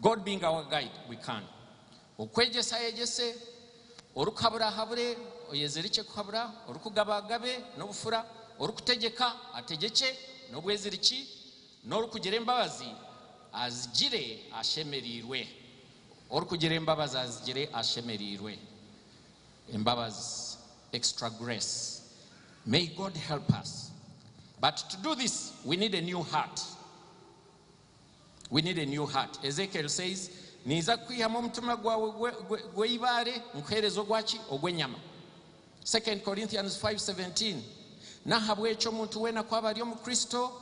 God being our guide we can Okwegyesa ayegyese, orikuhabura ahabure, oyezirikye kuhabura, orikugaba agabe n'obufura, orikutegyeka ategyekye n'obweziriki, n'orikugira embabazi azigire ashemereirwe Orikugira embabazi azigire ashemereirwe Embabazi, extra grace May God help us But to do this we need a new heart. We need a new heart Ezekiel says Niija kukwihamu omutima gwawe gweibaare nkuhereze ogwaki ogwenyama Second Corinthians 5, 17 Nahabwekyo omuntu weena ku aba ari omu Kristo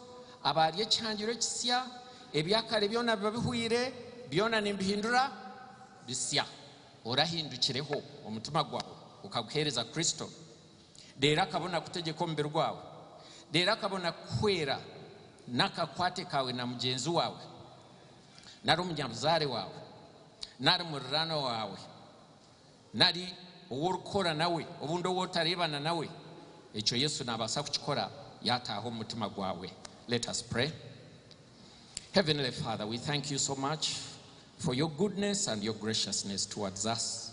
aba ari ekihangirwe kisya ebyakare byona biba bihweire byona nimbihindura bisya Orahindukireho omutima gwawe okaguhereza Kristo Reero akabona kutegyeka omubiri gwawe. Reero akabona kukuhwera n'akakwate kaawe na mugyenzi waawe, nari omunyabuzaare waawe, nari muriraanwa waawe, nari ou orikukora nawe, obundi ou otareebana nawe. Ekyo Yesu naabaasa kukikora yaataaha omu mutima gwawe. Let us pray. Heavenly Father, we thank you so much for your goodness and your graciousness towards us.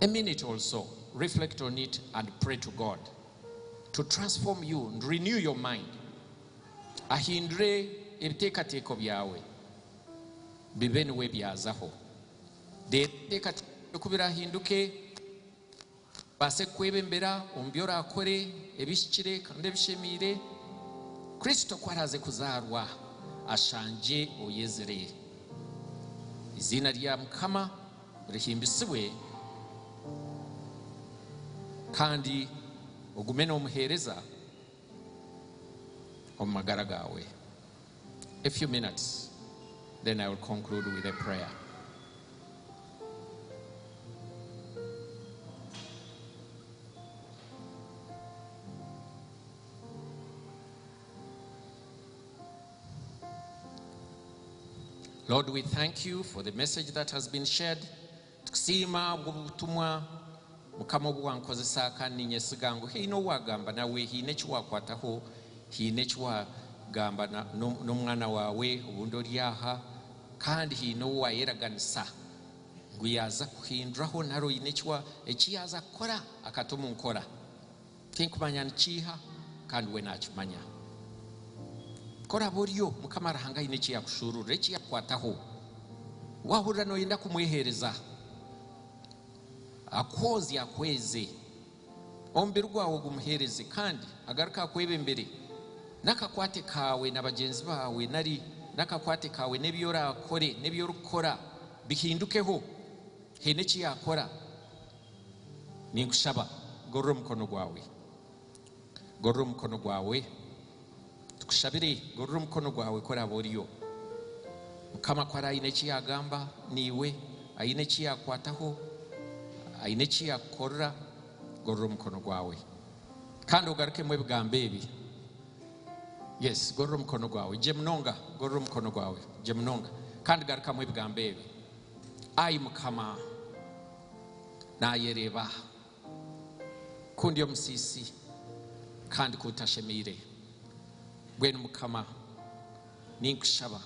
A minute or so, reflect on it and pray to God to transform you and renew your mind, ahindure ebiteekateeko byawe bibe niwe ebyazaho. Reeba ebiteekateeko byawe ku biraahinduke, bibaase kukwebembera omu bi oraakore ebihikire kandi ebishemeire, Kristo ku araaze kuzaarwa ashangye oyezire. Eiziina rya Mukama. Rihimbisibwe kandi ogume n'omuheereza omu magara gaawe. A few minutes then I will conclude with a prayer. Lord we thank you for the message that has been shared tukusiima ahabw'obutumwa mukama obuwankozesa kandi ninyesiga ngu haine owagamba nawe haine ekiwakwataho haine ekiwagamba n'omwana wawe obundi ori aha kandi haine owayeraganisa ngu yaza kuhinduraho nari oine ekiyaza kukora akata omu nkora. Tinkumanya ni kiiha kandi we naakimanya. Ku oraabe oryo, Mukama Ruhanga aine eki yaakushuururira, eki yaakukwataho. Waahurira nooyenda kumweheereza, akwozye akweze, omubiri gwawe ogumuheereze kandi agaruke akwebembere n'akakwate kaawe na bagyenzi baawe nari n'akakwate kaawe n'ebi oraakore n'ebi orikukora bihindukeho, haine eki yaakora. Ninkushaba, gorora omukono gwawe. Gorora omukono gwawe. Tukushabire, gorora omukono gwawe ku oraabe oriyo. Mukama, ku hariho aine eki yaagamba naiwe, aine eki yaakukwataho, aine eki yaakukorera, gorora omukono gwawe. Kandi ogarukemu ebigambo ebi. Yes, gorora omukono gwawe. Gye munonga, gorora omukono gwawe. Gye munonga. Kandi garukamu ebigambo ebi. Ai Mukama! naayereeba ku ndi omusiisi kandi ku ntashemeire. Mbwenu Mukama, ninkushaba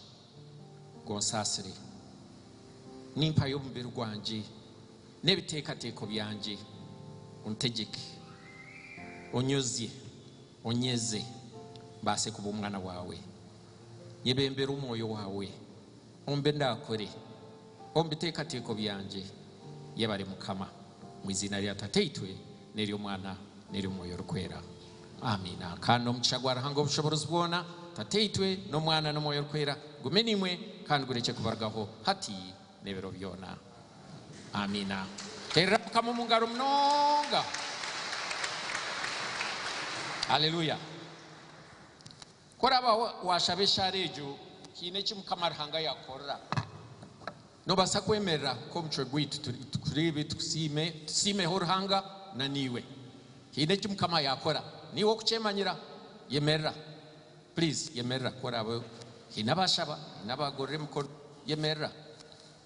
ngu onsaasire. Nimpayo omubiri gwangye n'ebiteekateeko byangye. Ontegyeke, onyozye, onyeze mbaase kuba omwana waawe. Nyebembera Omwoyo waawe. Omu bi ndaakore, omu biteekateeko byangye, yebare Mukama. Omu iziina rya Tataitwe, n'ery'Omwana, n'ery'Omwoyo Orikwera. Amiina. Kandi omugisha gwa Ruhanga Ow'obushoboorozi bwoona, Tataitwe, n'Omwana, n'Omwoyo Orikwera, gume naimwe kandi gurekye kubarugaho hati n'ebiro byoona. Amiina. Teerera Mukama omu ngaro munonga. Haleluya. Ku oraba washaba eshaara egyo, haine eki Mukama Ruhanga yakukorera. Nobasa kwemerera nk'omucwe gwaitu tureebe, tukusiime, tusiimeho Ruhanga na naiwe. Haine eki Mukama yakora. Naiwe okukyemanyira, yemerera. Please, yemerera ku oraba haine abashaba, haine abagorora emikono. Yemerera.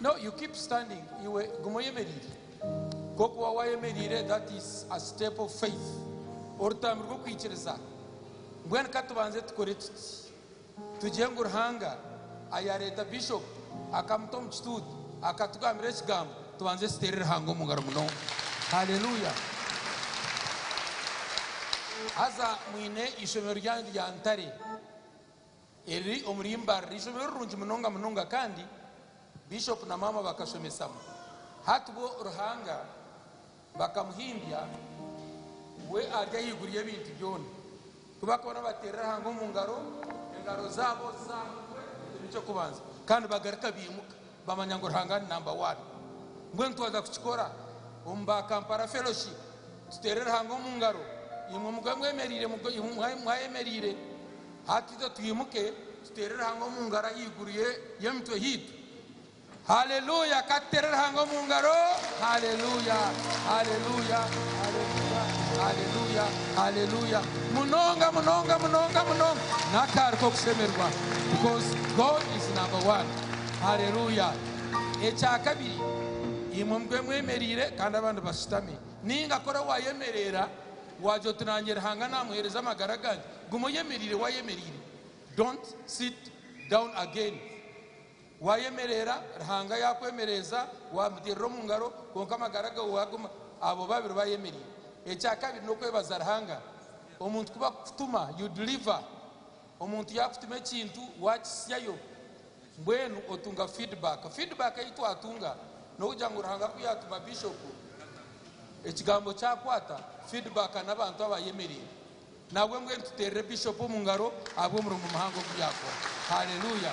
Now you keep standing iwe guma oyemereire kokuba wayemereire that is a step of faith orutambwe rwokwikiriza mbwenu katubanze tukore tuti tugye ngu ruhanga ayareta bishop akamuta omu kituutu akatugambira ekigambo tubanze tutere ruhanga omungaro munonga hallelujah haza mwine ishomero ryanyu rya ntare Eri riri omuri Mbale eishomero rirungi munonga munonga kandi Bishop na Maama bakashomesamu hati bo Ruhanga bakamuhimbya we ari ahaiguru y'ebintu byona ku bakuba nibateera Ruhanga omu ngaro engaro zaabo zizamukwe ekyo n'eky'okubanza kandi bagaruka baimuka Bamanya ngu Ruhanga ni namba waani. Mbwenu twaza kukikora omu ba Kampala Fellowship, tuteere Ruhanga omu ngaro, imwe mube mwemereire, mube mwayemereire, hati itwe twimuke tuteere Ruhanga omu ngaro ahaiguru y'emitwe yaitu. Haleluya! Ka tuteere Ruhanga omu ngaro. Haleluya! Haleluya! Haleluya! Haleluya! Haleluya! Munonga, munonga, munonga, munonga. N'akaari k'okushemerwa because God is number one. Haleluya! Ekya kabiri, imwe mube mwemereire kandi abandi bashutami. Nainga kora waayemereera, waagira oti, Naanye Ruhanga naamuheereza amagara gange. Guma oyemereire waayemereire. Don't sit down again. Waayemereera, Ruhanga yaakwemereeza, waamuteerera omu ngaro, kwonka amagara gaawe waaguma. Abo babiri baayemereire. Ekya kabiri n'okwebaza Ruhanga. Omuntu ku barikukutuma, you deliver. Omuntu yaakutuma ekintu waakitsyayo, mbwenu otunga feedback. Feedback ei twatunga n'okugira ngu Ruhanga ku yaatuma Bishopu, ekigambo kyakwata, feedback n'abantu abaayemereire. Nabwe mbwenu tuteerere Bishopu omu ngaro ahabw'omurimo muhango ogu yaakora. Haleluya!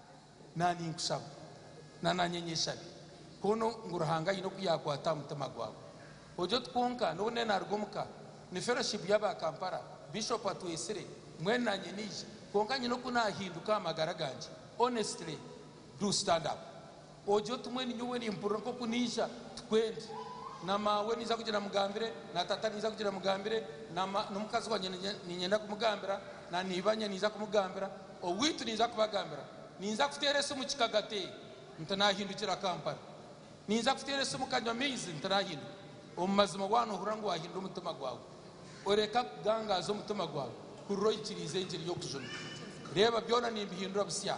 Na ninkusaba, na nanye nyeshabe, kunu ngu Ruhanga aine oku yakwata aha mutima gwawe. Ojo ti kwonka nobu ne naruga omu ka ni Fellowship y'aba Kampala, Bishop atwesire, mbwenu nanye nije, kwonka nyine oku nahinduka aha magara gangye. Honestly, do stand up. Oje otumwe ninyowe nimpurira nkoku naija tikwendi na mawe naija kugira mugambire na tata naija kugira mugambire na ma na omukazi wangye ninyenda kumugambira na nibanye naija kumugambira owitu naija kubagambira naija kutera esimu kikagate nti nahindukira Kampala naija kutera esimu kanywa amaizi nti nahinduka omumazima waba nohurira ngu wahindura omutima gwawe oreka kugangaza omutima gwawe hurira oyikirize engiri yokujuna reba byona nimbihindura busya.